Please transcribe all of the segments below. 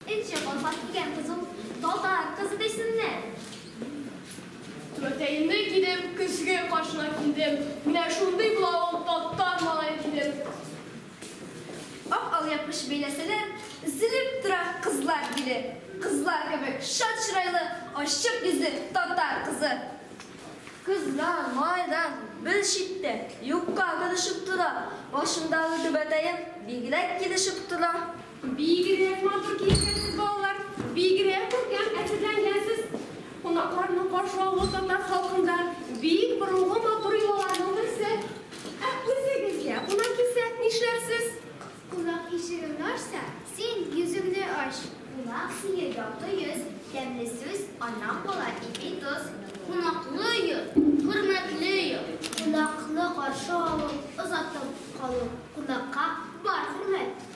Энҗе калфак кигән кыз ул, татар кызы дисеннәр. Түбәтәемне кидем, көзге каршына килдем, менә шундый була ул татар малае дидем. Ак алъяпкыч бәйләсәләр, өзелеп тора кызлар биле. Кызлар кебек шат чырайлы, ачык йөзле татар кызы. Кыздан, малайдан бер читтә, юкка килешеп тора, башымдагы түбәтәем бигрәк килешеп тора. Бигрәк матур киенгәнсез, балалар! Бигрәк күркәм әзерләнгәнсез! Кунакларның каршы алуы татар халкында бик борынгы матур йолаларның берсе. Ә үзегезгә кунак килсә, нишләрсез? Кунак ишегеңне ачса, син йөзеңне ач. Кунак сине якты йөз, тәмле сүз, аннан кала ипи тоз. Кунаклы йорт, хөрмәтле йорт. Кунакны каршы алу, озатып калу. Кунакка бар хөрмәт.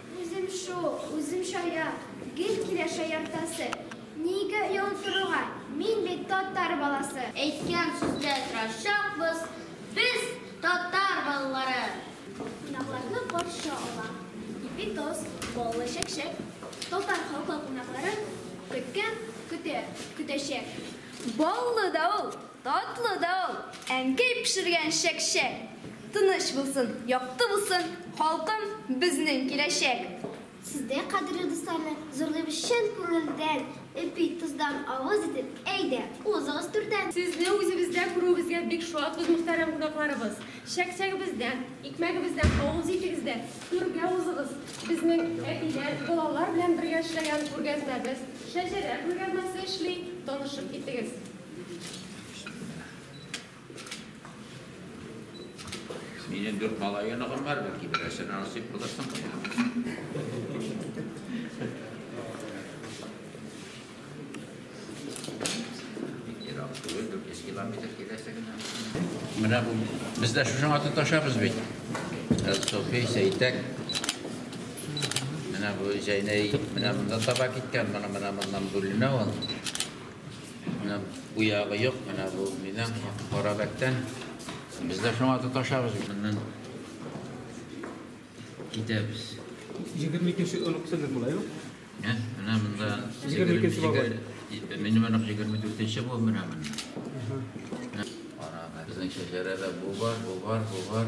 Үзем шул, үзем шая, гел килә шаяртасы. Нигә оялып торуга, мин бит татар баласы. Әйткән сүздә торачакбыз, без татар балалары. Кунакларны каршы ала ипи тоз, баллы чәкчәк. Татар халкы кунакларын көткән, көтә, көтәчәк. Баллы да ул! Татлы да ул, әнкәй пешергән чәкчәк. Тыныч булсын, якты булсын, халкым, безнең киләчәк. Сез дә, кадерле дусларны, зурлыйбыз чын күңелдән, Эпи, тоздан авыз итеп, әйдә, узыгыз түрдән. Сезне үзебездә күрүебезгә бик шатбыз, мөхтәрәм кунакларыбыз. Чәкчәгебездән, икмәгебездән авыз итегез дә, түргә узыгыз. Безнең әбиләр, балалар белән бергә эшләгән күргәзмәбез, шәҗәрә күргәзмәсе эшли, танышып китегез. Минем дүрт малайы ныгым бар, бәлки берәсен насыйп булырсың. Ерак түгел, дүрт йөз километр киләсе генә. Менә бу без дә шуның атын ташабыз бит. Софи Сәйтәк. Менә бу Зәйнәй менә монда таба киткән, менә менә моннан бүленә ул. Менә бу ягы юк, менә бу минем Карабәктән. Без дә шуңа тоташабыз. Моннан китәбез. 22-нче онык сезнең була, юк? Ә? Менә монда 22-нче бабай. Минем онык 24-нче бу менә монда. Карабәк. Безнең шәҗәрәдә бу бар, бу бар, бу бар.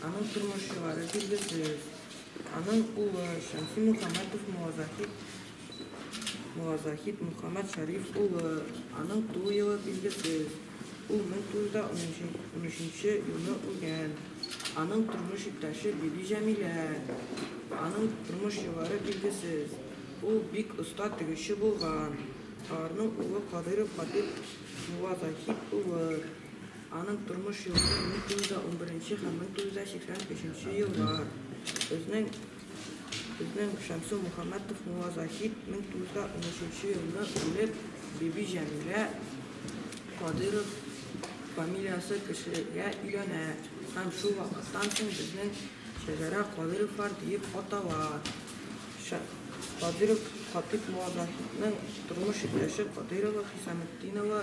Аның тормышчылары билгесез. Аның улы Шәмси Мөхәммәтов Муазахит, Муазахит Мөхәммәт Шәриф улы. Аның туу елы билгесез. Ул 1913 елны үлгән. Аның тормыш иптәше Биби Җәмилә. Аның тормыш еллары билгесез. Ул бик оста тегүче булган. Аларның улы Кадыйров Хатыйп Муазахит улы. Аның тормыш юлы 1911 һәм 1983 еллар. Безнең безнең Шәмсу Мухаммәтов Муазахид 1913 елны үлеп, Биби Җәмилә Кадыров фамилиясе кешегә өйләнә һәм шул вакыттан соң безнең шәҗәрә Кадыровлар диеп атала. Кадыров Хатип Муазахидның тормыш иптәше Кадырова Хисаметдинова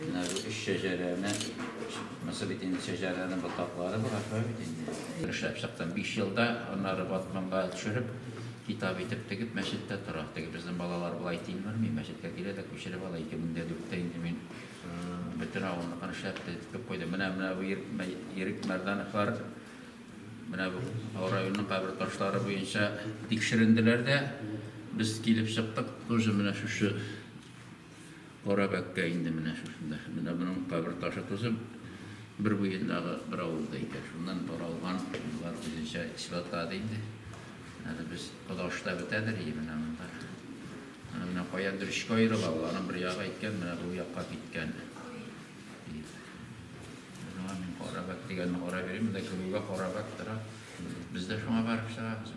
Менә бу өч шәҗәрәне, мысы бит инде шәҗәрәнең ботаклары бар, шулай бит инде. Эшләп чыктым. Биш елда аннары батманга төшереп, китап итеп тегеп, мәчеттә тора. Теге безнең балалар болай тилмерми, мәчеткә килә дә күчереп ала. 2004-тә инде мин бөтен авылныкын эшләп тетеп куйдым. Менә менә бу Ирек Мәрдановлар менә бу районның кабер ташлары буенча тикшеренделәр дә, без килеп чыктык, тоже менә шушы Кара бәккә инде менә шушында. Менә буның кабер ташы тузы бер буендагы бер авылда икән. Шуннан таралган, болар үзенчә исбатлады инде. Әле без Кодашта бетәдер ие менә монда. Менә менә каядыр өчкә аерыла, ул аның бер ягы әйткән, менә бу якка киткән. Менә мин кара бәк дигәнне карап йөрим, монда кемгә кара бәк тора. Без дә шуңа барып чыгабыз.